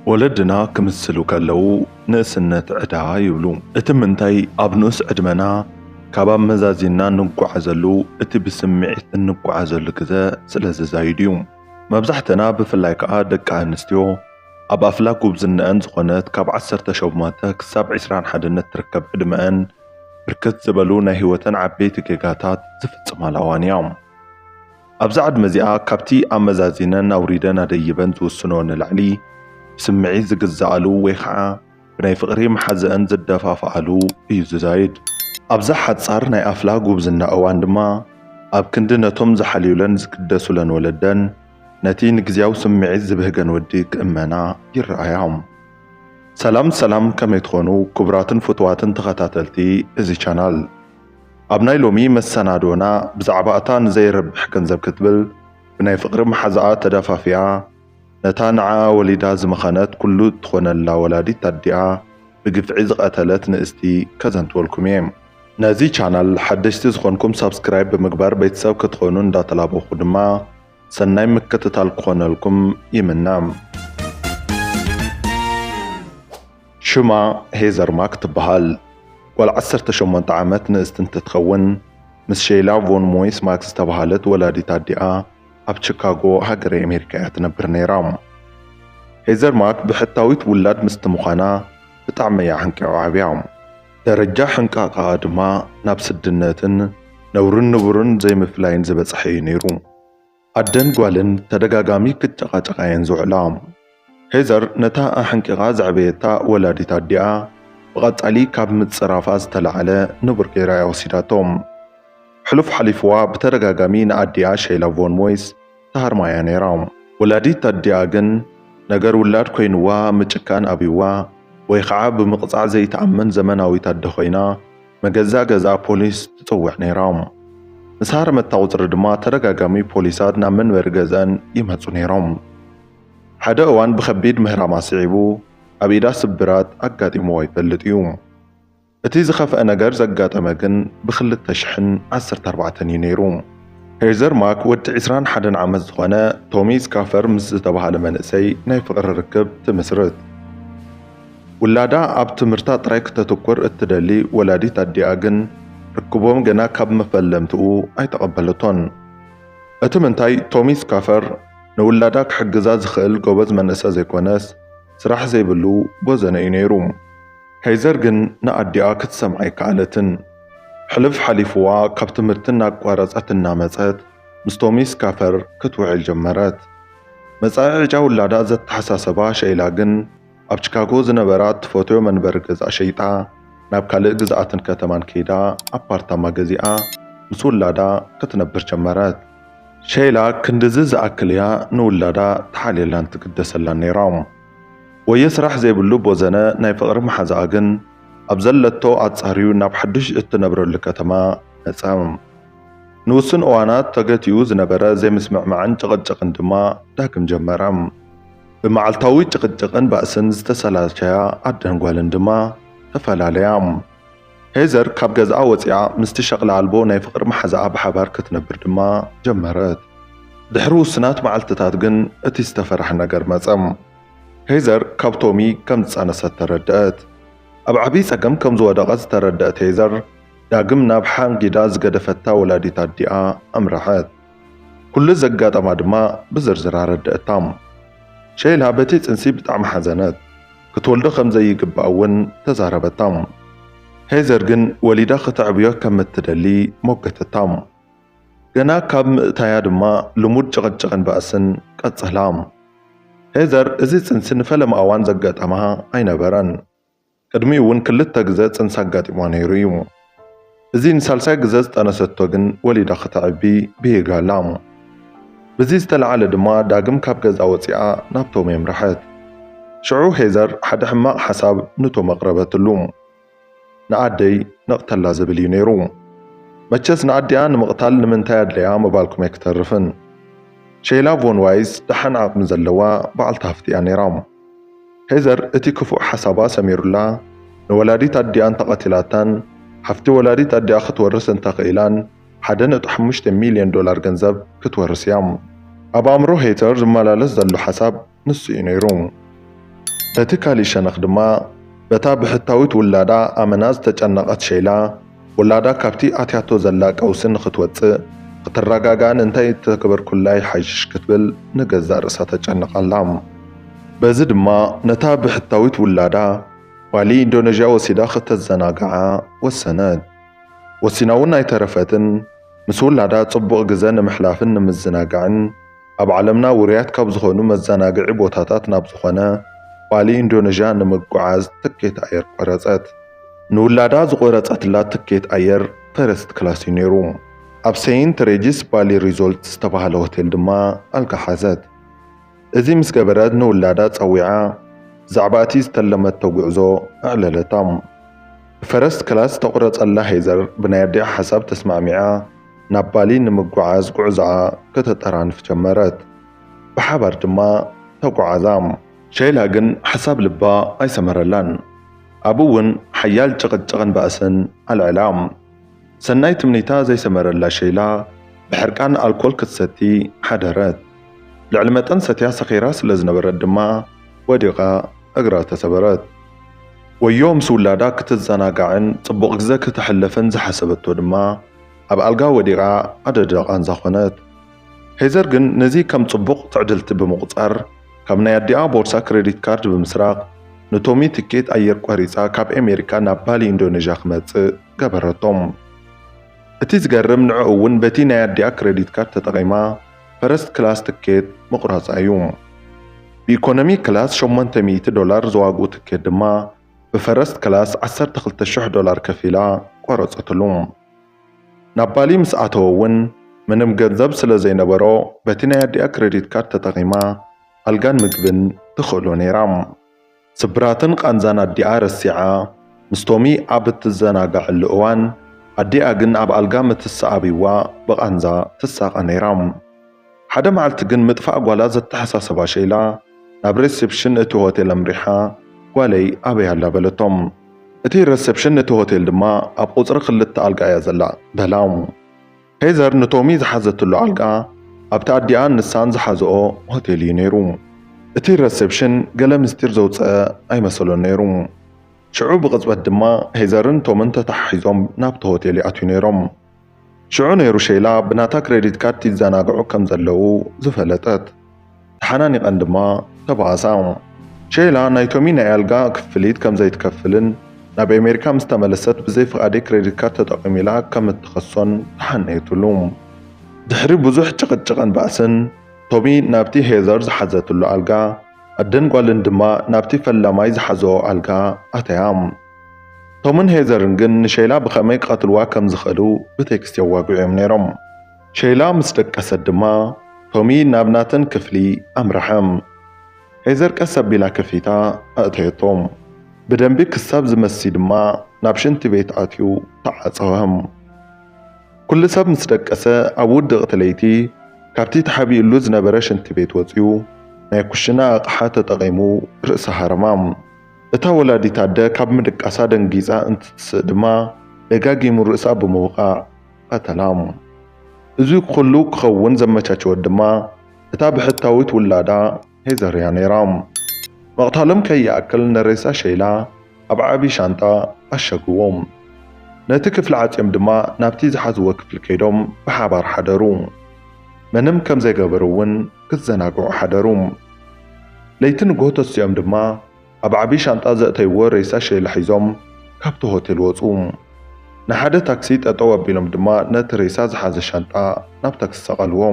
ወለድና ክምስሉ ከለዉ ንእስነት ዕዳ ይብሉ። እቲ ምንታይ ኣብ ንኡስ ዕድመና ካብ ኣመዛዚንና እንጓዓዘሉ እቲ ብስምዒት እንጓዓዘሉ ግዘ ስለ ዝዛይድ እዩ። መብዛሕተና ብፍላይ ከኣ ደቂ ኣንስትዮ ኣብ ኣፍላ ጉብዝነኣን ዝኾነት ካብ ዓሰርተ ሸሞንተ ክሳብ ዕስራን ሓደን እትርከብ ዕድመኣን ብርክት ዝበሉ ናይ ህይወተን ዓበይቲ ጌጋታት ዝፍፅማላ እዋን እያ። ኣብዛ ዕድመ እዚኣ ካብቲ ኣመዛዚነን ኣውሪደን ኣደይበን ዝውስንኦ ንላዕሊ ብስምዒት ዝግዝኣሉ ወይ ኸዓ ብናይ ፍቕሪ መሓዝኣን ዝደፋፍኣሉ እዩ ዝዛይድ። ኣብዛ ሓጻር ናይ ኣፍላ ጉብዝና እዋን ድማ ኣብ ክንዲ ነቶም ዝሓልዩለን ዝግደሱለን ወለደን ነቲ ንግዝያዊ ስምዒት ዝብህገን ወዲ ክእመና ይረኣያ። ሰላም ሰላም ከመይ ትኾኑ ክቡራትን ፍቱዋትን ተኸታተልቲ እዚ ቻናል። ኣብ ናይ ሎሚ መሰናድኦና ብዛዕባ እታ ንዘይረብሕ ገንዘብ ክትብል ብናይ ፍቕሪ መሓዛኣ ተደፋፊኣ ነታ ንዓኣ ወሊዳ ዝመኸነት ኩሉ እትኾነላ ወላዲት ኣዲኣ ብግፍዒ ዝቐተለት ንእስቲ ከዘንትወልኩም እየ። ነዚ ቻናል ሓደሽቲ ዝኾንኩም ሳብስክራይብ ብምግባር ቤተሰብ ክትኾኑ እንዳተላበኹ ድማ ሰናይ ምክትታል ክኾነልኩም ይምነ። ሽማ ሄዘር ማክ ትበሃል። ጓል ዓሰርተ ሸሞንተ ዓመት ንእስቲ እንትትከውን፣ ምስ ሸይላ ቮን ሞይስ ማክ ዝተበሃለት ወላዲት ኣዲኣ ኣብ ቺካጎ ሃገረ ኣሜሪካ እያ ትነብር ነይራ። ሄዘር ማክ ብሕታዊት ውላድ ምስቲ ምዃና ብጣዕሚ እያ ሕንቂዖ ዓብያ። ደረጃ ሕንቃቐኣ ድማ ናብ ስድነትን ነውርን ንቡርን ዘይምፍላይን ዝበጽሐ እዩ ነይሩ። ኣደን ጓልን ተደጋጋሚ ክጨቓጨቓ'የን ዝውዕላ። ሄዘር ነታ ኣሕንቂቓ ዘዕበየታ ወላዲት ኣዲኣ ብቐጻሊ ካብ ምጽራፋ ዝተላዕለ ንቡር ገይራ'ያ ወሲዳቶ። ሕሉፍ ሓሊፍዋ ብተደጋጋሚ ንኣዲኣ ሸይላ ቮን ሞይስ ትሃርማ'ያ ነይራ። ወላዲት ኣዲኣ ግን ነገር ውላድ ኮይንዋ ምጭካን ኣብይዋ ወይ ኸዓ ብምቕጻዕ ዘይትኣምን ዘመናዊት ኣደ ኮይና፣ መገዛ ገዛ ፖሊስ ትጽውዕ ነይራ። ምስ ሃረመታ ቁጽሪ ድማ ተደጋጋሚ ፖሊሳት ናብ መንበሪ ገዝኣን ይመጹ ነይሮም። ሓደ እዋን ብከቢድ ምህራም ኣስዒቡ ኣብ ኢዳ ስብራት ኣጋጢምዋ ይፈልጥ እዩ። እቲ ዝኸፍኣ ነገር ዘጋጠመ ግን ብ ክልተ ሽሕን ዓሰርተ ኣርባዕተን እዩ ነይሩ። ሄዘር ማክ ወዲ ዕስራን ሓደን ዓመት ዝኾነ ቶሚ ስካፈር ምስ ዝተባህለ መንእሰይ ናይ ፍቕሪ ርክብ ትምስርት። ውላዳ ኣብ ትምህርታ ጥራይ ክተትኩር እትደሊ ወላዲት ኣዲኣ ግን፣ ርክቦም ገና ካብ መፈለምትኡ ኣይተቐበለቶን። እቲ ምንታይ፣ ቶሚ ስካፈር ንውላዳ ክሕግዛ ዝኽእል ጎበዝ መንእሰ ዘይኮነስ፣ ስራሕ ዘይብሉ ቦዘነ እዩ ነይሩ። ከይዘር ግን ንኣዲኣ ክትሰምዓ ኣይከኣለትን። ሕልፍ ሓሊፉዋ ካብ ትምህርቲ እናቋረጸት እናመጸት ምስ ቶሚ ስካፈር ክትውዕል ጀመረት። መጻኢ ዕጫ ውላዳ ዘተሓሳሰባ ሸይላ ግን፣ ኣብ ቺካጎ ዝነበራ እትፈትዮ መንበሪ ገዛ ሸይጣ ናብ ካልእ ግዝኣትን ከተማን ከይዳ ኣፓርታማ ገዚኣ ምስ ውላዳ ክትነብር ጀመረት። ሸይላ ክንድዚ ዝኣክል እያ ንውላዳ ትሓልየላን ትግደሰላን ነይራ። ወዮ ስራሕ ዘይብሉ ቦዘነ ናይ ፍቕሪ መሓዛኣ ግን ኣብ ዘለቶ ኣጻርዩ ናብ ሓዱሽ እትነብረሉ ከተማ መጸ። ንውሱን እዋናት ተገቲኡ ዝነበረ ዘይምስምዕማዕን ጭቕጭቕን ድማ ዳግም ጀመረ። ብመዓልታዊ ጭቕጭቕን ባእስን ዝተሰላቸያ ኣደን ጓልን ድማ ተፈላለያ። ሄዘር ካብ ገዝኣ ወጺኣ ምስቲ ሸቕላ ኣልቦ ናይ ፍቕሪ መሓዛኣ ብሓባር ክትነብር ድማ ጀመረት። ድሕሪ ውሱናት መዓልትታት ግን እቲ ዝተፈርሐ ነገር መጸ። ሄዘር ካብ ቶሚ ከም ዝጸነሰት ተረድኣት። ኣብ ዓብዪ ጸገም ከም ዝወደቐት ዝተረድኣት ሄዘር፣ ዳግም ናብ ሓንጊዳ ዝገደፈታ ወላዲት ኣዲኣ ኣምርሐት። ኩሉ ዘጋጠማ ድማ ብዝርዝር ኣረድእታ። ሸይላ በቲ ጽንሲ ብጣዕሚ ሓዘነት። ክትወልዶ ከም ዘይግባእ እውን ተዛረበታ። ሄዘር ግን ወሊዳ ክተዕብዮ ከም እትደሊ ሞገተታ። ገና ካብ ምእታያ ድማ ልሙድ ጭቕጭቕን ባእስን ቀጸላ። ሄዘር እዚ ጽንሲ ንፈለማ እዋን ዘጋጠማ ኣይነበረን። ቅድሚኡ እውን ክልተ ግዘ ፅንሲ ኣጋጢምዋ ነይሩ እዩ። እዚ ንሳልሳይ ግዘ ዝጠነሰቶ ግን ወሊዳ ክተዕቢ ብሂጋ ኣላ። ብዚ ዝተልዓለ ድማ ዳግም ካብ ገዝኣ ወፂኣ ናብ ቶሚ ኣምረሐት። ሽዑ ሄዘር ሓደ ሕማቕ ሓሳብ ንቶም ኣቕረበትሉ። ንኣደይ ነቕተላ ዝብል እዩ ነይሩ። መቸስ ንኣዲኣ ንምቕታል ንምንታይ ኣድለያ ምባልኩም ኣይክተርፍን። ሼይላ ቮን ዋይዝ ደሓን ዓቕሚ ዘለዋ በዓልቲ ሃፍቲ እያ ነይራ። ሄዘር እቲ ክፉእ ሓሳባ ሰሚሩላ ንወላዲት ኣዲኣ እንተቐቲላታን ሃፍቲ ወላዲት ኣዲኣ ክትወርስ እንተኽኢላን ሓደ ነጥቢ ሓሙሽተ ሚልዮን ዶላር ገንዘብ ክትወርስ እያ። ኣብ ኣእምሮ ሄዘር ዝመላለስ ዘሎ ሓሳብ ንሱ እዩ ነይሩ። በቲ ካልእ ሸነኽ ድማ በታ ብሕታዊት ውላዳ ኣመና ዝተጨነቐት ሸይላ ውላዳ ካብቲ ኣትያቶ ዘላ ቀውሲ ንኽትወጽእ፣ ንኽትረጋጋእን እንታይ እንተገበርኩላ ይሓይሽ ክትብል ንገዛእ ርእሳ ተጨንቕ ኣላ። በዚ ድማ ነታ ብሕታዊት ውላዳ ባሊ ኢንዶነዥያ ወሲዳ ከተዘናግዓ ወሰነት። ወሲና'ውን ኣይተረፈትን፣ ምስ ውላዳ ጽቡቕ ግዘ ንምሕላፍን ንምዝንጋዕን፣ ኣብ ዓለምና ውሩያት ካብ ዝኾኑ መዘናግዒ ቦታታት ናብ ዝኾነ ባሊ ኢንዶነዥያ ንምጉዓዝ ትኬት ኣየር ቆረፀት። ንውላዳ ዝቖረፀትላ ትኬት ኣየር ፈርስት ክላስ እዩ ነይሩ። ኣብ ሰይንት ሬጂስ ባሊ ሪዞልት ዝተብሃለ ሆቴል ድማ ኣልጋ ሓዘት። እዚ ምስ ገበረት ንውላዳ ፀዊዓ ብዛዕባ እቲ ዝተለመቶ ጉዕዞ ኣዕለለታ። ብፈረስት ክላስ ዝተቑረፀላ ሄዘር ብናይ ኣዲኣ ሓሳብ ተስማዕሚዓ፣ ናብ ባሊ ንምጉዓዝ ጉዕዞኣ ከተጠራንፍ ጀመረት። ብሓባር ድማ ተጉዓዛ። ሸይላ ግን ሓሳብ ልባ ኣይሰመረላን። ኣብኡ እውን ሓያል ጭቕጭቕን ባእስን ኣልዐላ። ሰናይ ትምኒታ ዘይሰመረላ ሸይላ ብሕርቃን ኣልኮል ክትሰቲ ሓደረት። ልዕሊ መጠን ሰትያ ሰኺራ ስለዝነበረት ድማ ወዲቓ እግራ ተሰበረት። ወዮ ምስ ውላዳ ክትዘናጋዕን ጽቡቕ ግዘ ከተሕልፍን ዝሓሰበቶ ድማ፣ ኣብ ኣልጋ ወዲቓ ኣደዳ ቓንዛ ዀነት። ሄዘር ግን ነዚ ከም ጽቡቕ ትዕድልቲ ብምቝጻር፣ ካብ ናይ ኣዲኣ ቦርሳ ክረዲት ካርድ ብምስራቕ ንቶሚ ትኬት ኣየር ቈሪጻ ካብ ኣሜሪካ ናብ ባሊ ኢንዶነዥያ ክመጽእ ገበረቶ። እቲ ዝገርም ንዕኡ'ውን በቲ ናይ ኣዲኣ ክረዲት ካርድ ተጠቒማ ፈረስት ክላስ ትኬት ምቝራጻ'ዩ። ብኢኮኖሚ ክላስ ሸሞንተ ሚእቲ ዶላር ዝዋግኡ ትኬት ድማ ብፈረስት ክላስ ዓሰርተ ክልተ ሽሕ ዶላር ከፊላ ቆረጸትሉ። ናብ ባሊ ምስ ኣተወ እውን ምንም ገንዘብ ስለ ዘይነበሮ በቲ ናይ ኣዲኣ ክረዲት ካርድ ተጠቒማ ኣልጋን ምግብን ትኽእሎ ነይራ። ስብራትን ቓንዛን ኣዲኣ ረሲዓ ምስ ቶሚ ኣብ እትዘናጋዐሉ እዋን ኣዲኣ ግን ኣብ ኣልጋ ምትሰኣቢዋ ብቓንዛ ትሳቐ ነይራ። ሓደ መዓልቲ ግን ምጥፋእ ጓላ ዘተሓሳሰባ ሸይላ ናብ ረሰፕሽን እቲ ሆቴል ኣምሪሓ ጓለይ ኣበይ ኣላ በለቶም። እቲ ረሰፕሽን እቲ ሆቴል ድማ ኣብ ቁጽሪ ክልተ ኣልጋ እያ ዘላ በላ። ሄዘር ንቶሚ ዝሓዘትሉ ኣልጋ ኣብቲ ኣዲኣን ንሳን ዝሓዝኦ ሆቴል እዩ ነይሩ። እቲ ረሰፕሽን ገለ ምስጢር ዘውጸኣ ኣይመሰሎን ነይሩ። ሽዑ ብቕጽበት ድማ ሄዘርን ቶምን ተተሓሒዞም ናብቲ ሆቴል ይኣትዩ ነይሮም። ሽዑ ነይሩ ሸይላ ብናታ ክረዲት ካርድ ይዘናግዑ ከም ዘለዉ ዝፈለጠት። ተሓናኒቐን ድማ ተበኣሳ። ሸይላ ናይ ቶሚ ናይ ኣልጋ ክፍሊት ከም ዘይትከፍልን ናብ ኣሜሪካ ምስ ተመለሰት ብዘይ ፍቓደይ ክረዲት ካርድ ተጠቒሙ ኢላ ከም እትኸሶን ተሓነየትሉ። ድሕሪ ብዙሕ ጭቕጭቕን ባእስን ቶሚ ናብቲ ሄዘር ዝሓዘትሉ ኣልጋ፣ ኣደን ጓልን ድማ ናብቲ ፈላማይ ዝሓዘኦ ኣልጋ ኣተያ። ቶምን ሄዘርን ግን ንሸይላ ብኸመይ ክቐትልዋ ከም ዝኽእሉ ብቴክስት የዋግዑ እዮም ነይሮም። ሸይላ ምስ ደቀሰት ድማ ቶሚ ናብ ናተን ክፍሊ ኣምረሐ። ሄዘር ቀስ ኣቢላ ክፍሊታ ኣእተየቶ። ብደንቢ ክሳብ ዝመሲ ድማ ናብ ሽንቲ ቤት ኣትዩ ተዓጸወ። ኩሉ ሰብ ምስ ደቀሰ ኣብ ውድቕቲ ለይቲ ካብቲ ተሓቢኡሉ ዝነበረ ሽንቲ ቤት ወጺኡ ናይ ኩሽና ኣቕሓ ተጠቒሙ ርእሲ ሃረማ። እታ ወላዲት ኣደ ካብ ምድቃሳ ደንጊጻ እንትትስእ ድማ ደጋጊሙ ርእሳ ብምውቃዕ ቐተላ። እዚ ኹሉ ክኸውን ዘመቻቸወት ድማ እታ ብሕታዊት ውላዳ ሄዘር'ያ ነይራ። ምቕታሎም ከይኣክል ንሬሳ ሸይላ ኣብ ዓቢ ሻንጣ ኣሸግዎ። ነቲ ክፍሊ ዓጽዮም ድማ ናብቲ ዝሓዝዎ ክፍሊ ከይዶም ብሓባር ሓደሩ። ምንም ከም ዘይገበሩ'ውን ክዘናግዑ ሓደሩ። ለይቲ ንግሆ ተሲኦም ድማ ኣብ ዓቢ ሻንጣ ዘእተይዎ ሬሳ ሼላ ሒዞም ካብቲ ሆቴል ወጹ። ንሓደ ታክሲ ጠጠው ኣቢሎም ድማ ነቲ ሬሳ ዝሓዘ ሻንጣ ናብ ታክሲ ሰቐልዎ።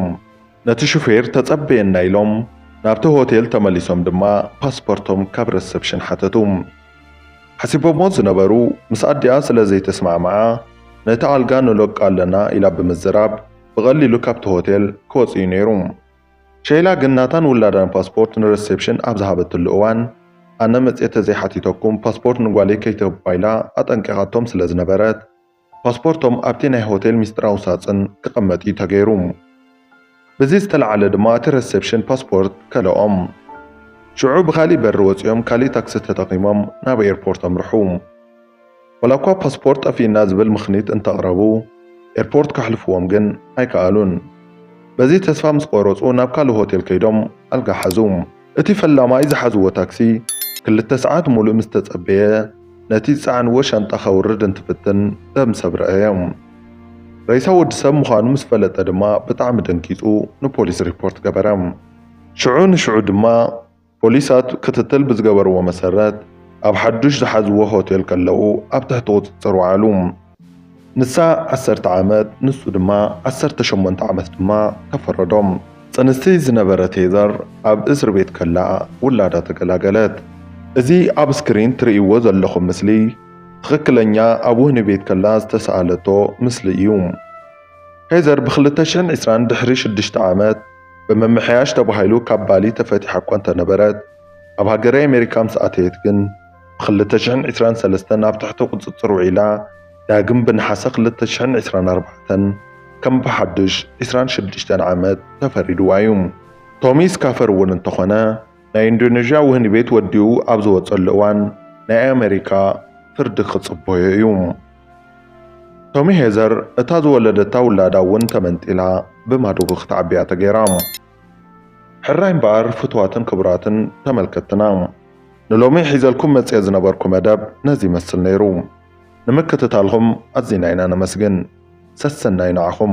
ነቲ ሹፌር ተጸበየና ኢሎም ናብቲ ሆቴል ተመሊሶም ድማ ፓስፖርቶም ካብ ረሰፕሽን ሓተቱ። ሓሲቦምዎ ዝነበሩ ምስ ኣዲኣ ስለ ዘይተስማዕመዓ ነቲ ኣልጋ ንለቆ ኣለና ኢላ ብምዝራብ፣ ብቐሊሉ ካብቲ ሆቴል ክወጽእ'ዩ ነይሩ። ሸይላ ግን ናታን ውላዳን ፓስፖርት ንረሴፕሽን ኣብ ዝሃበትሉ እዋን፣ ኣነ መጺኤ ተዘይሓቲተኩም ፓስፖርት ንጓለይ ከይትህባ ኢላ ኣጠንቂቓቶም ስለ ዝነበረት፣ ፓስፖርቶም ኣብቲ ናይ ሆቴል ምስጢራዊ ሳጽን ክቐመጥ'ዩ ተገይሩ። ብዚ ዝተላዕለ ድማ እቲ ረሴፕሽን ፓስፖርት ከልኦም። ሽዑ ብኻሊእ በሪ ወጺኦም ካሊእ ታክሲ ተጠቒሞም ናብ ኤርፖርት ኣምርሑ። ዋላኳ ፓስፖርት ጠፊኡና ዝብል ምኽኒት እንተቕረቡ ኤርፖርት ከሕልፍዎም ግን ኣይከኣሉን። በዚ ተስፋ ምስ ቆረፁ ናብ ካልእ ሆቴል ከይዶም ኣልጋ ሓዙ። እቲ ፈላማይ ዝሓዝዎ ታክሲ ክልተ ሰዓት ሙሉእ ምስ ተፀበየ ነቲ ዝፀዓንዎ ሻንጣ ከውርድ እንትፍትን ደም ሰብ ረኣየ። ሬሳ ወዲ ሰብ ምዃኑ ምስ ፈለጠ ድማ ብጣዕሚ ደንጊፁ ንፖሊስ ሪፖርት ገበረ። ሽዑ ንሽዑ ድማ ፖሊሳት ክትትል ብዝገበርዎ መሰረት ኣብ ሓዱሽ ዝሓዝዎ ሆቴል ከለዉ ኣብ ትሕቲ ቁጽጽር ወዓሉ። ንሳ ዓሰርተ ዓመት ንሱ ድማ ዓሰርተ ሸሞንተ ዓመት ድማ ተፈረዶም። ጽንስቲ ዝነበረት ሄዘር ኣብ እስር ቤት ከላ ውላዳ ተገላገለት። እዚ ኣብ ስክሪን ትርእይዎ ዘለኹም ምስሊ ትኽክለኛ ኣብ ወህኒ ቤት ከላ ዝተሰኣለቶ ምስሊ እዩ። ሄዘር ብ ክልተ ሽሕን ዕስራን ድሕሪ ሽዱሽተ ዓመት ብምምሕያሽ ተባሂሉ ካብ ባሊ ተፈቲሓ እኳ እንተነበረት፣ ኣብ ሃገረ ኣሜሪካ ምስ ኣተየት ግን ብ ክልተ ሽሕን ዕስራን ሰለስተን ኣብ ትሕቲ ቁጽጽር ውዒላ ዳግም ብነሓሰ ክልተ ሽሕን ዕስራን ኣርባዕተን ከም ብሓድሽ ዕስራን ሽዱሽተን ዓመት ተፈሪድዋ እዩ። ቶሚ ስካፈር እውን እንተኾነ፣ ናይ ኢንዶነዥያ ወህኒ ቤት ወዲኡ ኣብ ዝወጸሉ እዋን ናይ ኣመሪካ ፍርዲ ክጽበዮ እዩ። ቶሚ ሄዘር እታ ዝወለደታ ውላዳ እውን ተመንጢላ ብማዶጎ ክትዓቢ እያ ተገይራ። ሕራይ እምበኣር ፍቱዋትን ክቡራትን ተመልከትትና ንሎሚ ሒዘልኩም መጺኤ ዝነበርኩ መደብ ነዚ ይመስል ነይሩ። ንምክትታልኹም ኣዚና ኢና ነመስግን። ሰሰናዩ ንዓኹም።